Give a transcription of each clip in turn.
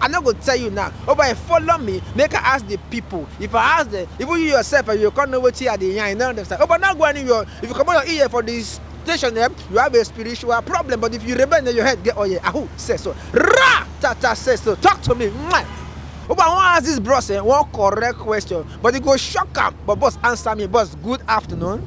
I no go tell you now, oh boy follow me make I ask the people, if I ask them, even you yourself eh, you go come know wetin I dey yarn, you no understand, oh boy no go anywhere, if you comot your ear for the station eh, you have a spiritual problem but if you remain eh, your head get oil, ahu say so, ra ta ta say so, talk to me, mwah. Oh boy I wan ask this bros eh, one correct question but e go shock am, but boss answer me, boss good afternoon.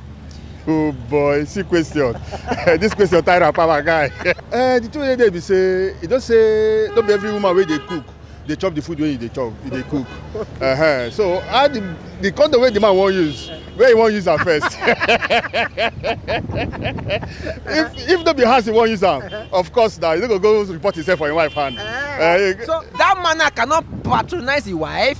oh boy see question this question tire am power guy. uh, the truth dey be say e don say no be every woman wey dey cook dey chop the food wey you dey chop you dey cook uh -huh. so how the the condom wey the man wan use where he wan use am first if if no be house he wan use am of course na he no go go report himself for him wife hand. Uh, uh, so that man cannot patronize his wife.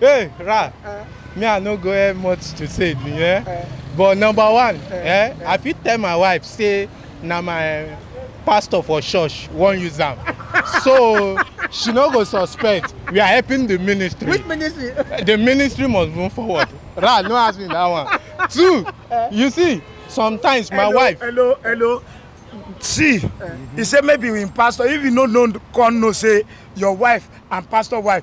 Hey, Ra, uh, me I no go have much to say, yeah. Uh, but number one, uh, eh, uh, I fit tell my wife say na my pastor for church wan use am so she no go suspect we are helping the ministry. which ministry. the ministry must move forward ra no ask me that one two uh, you see sometimes hello, my wife. hello hello see uh, he say maybe him pastor if you no know come know say your wife and pastor wife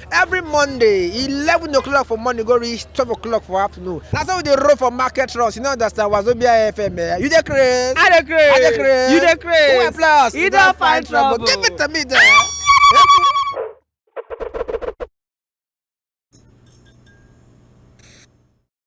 every monday eleven o'clock for morning go reach twelve o'clock for afternoon na so we dey roll for market runs you no understand wazobia fm eh you dey craze I dey craze. i dey craze You dey craze. who applause You don find trouble. give it to me there.